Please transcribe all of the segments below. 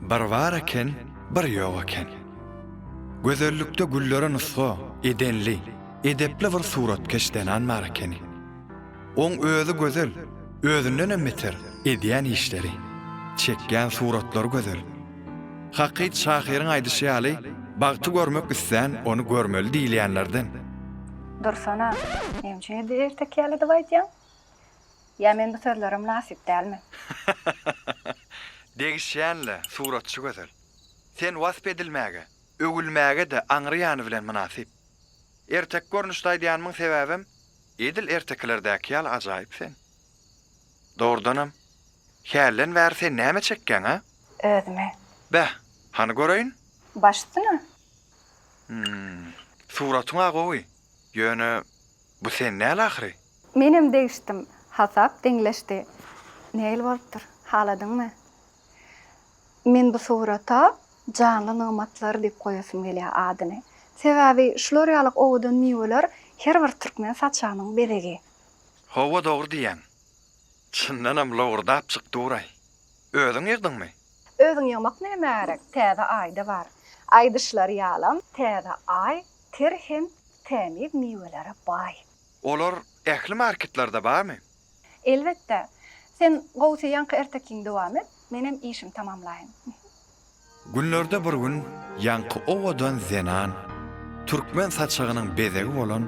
Bir bar eken, bir ýok eken. Gözellikde güllere nusga edenli, edepli bir suratkeş zenan bar ekeni. Oň özi gözel, özündenem beter, edýän işleri, çekýän suratlary gözel. Hakyt şahyryň aýdyşy ýaly, bagty görmek islän ony görmeli diýilýänlerden. Dursana, näme üçin edil ertek ýaly edip aýdýaň? Ýa men bu sözlere mynasyp dälmi? Degişýän-le, suratçy gözel. Sen wasp edilmäge, öwülmäge-de aňry ýany bilen mynasyp. Erteki görnüşde aýdýanymyň sebäbem, edil ertekilerdäki ýaly ajaýyp sen. Dogrudanam, hälden bäri sen näme çekýäň, a? Özümi. Beh, hany göreýin? Baş üstüne. Hum. Suratyň-a gowy, ýöne Bu sen däl ahyry. Menem degişdim. Hasap deňleşdi. Nähili bolupdyr? Haladyňmy? Men bu surata Janly nygmatlar diýip goýasym gelýär adyny. Sebäbi şular ýaly owadan miweler her bir türkmen saçagynyň bezegi. Hawa dogry diýýäň. Çyndanam lowurdapjyk dur-aý. Özüň ýygdyňmy? Özüň ýygmak nämä gerek? Täze Aýda bar. Aýdyşlary ýalam, Täze Aý ter hem tämiz miwelere baý. Olar ähli marketlerde barmy? Elbetde. Sen gowusy ýaňky ertekiňi dowam et, menem işimi tamamlaýyn. Günlerde bir gün ýaňky owadan zenan türkmen saçagynyň bezegi bolan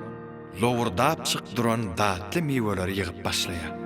lowurdapjyk duran datly miweleri ýygyp başlaýar.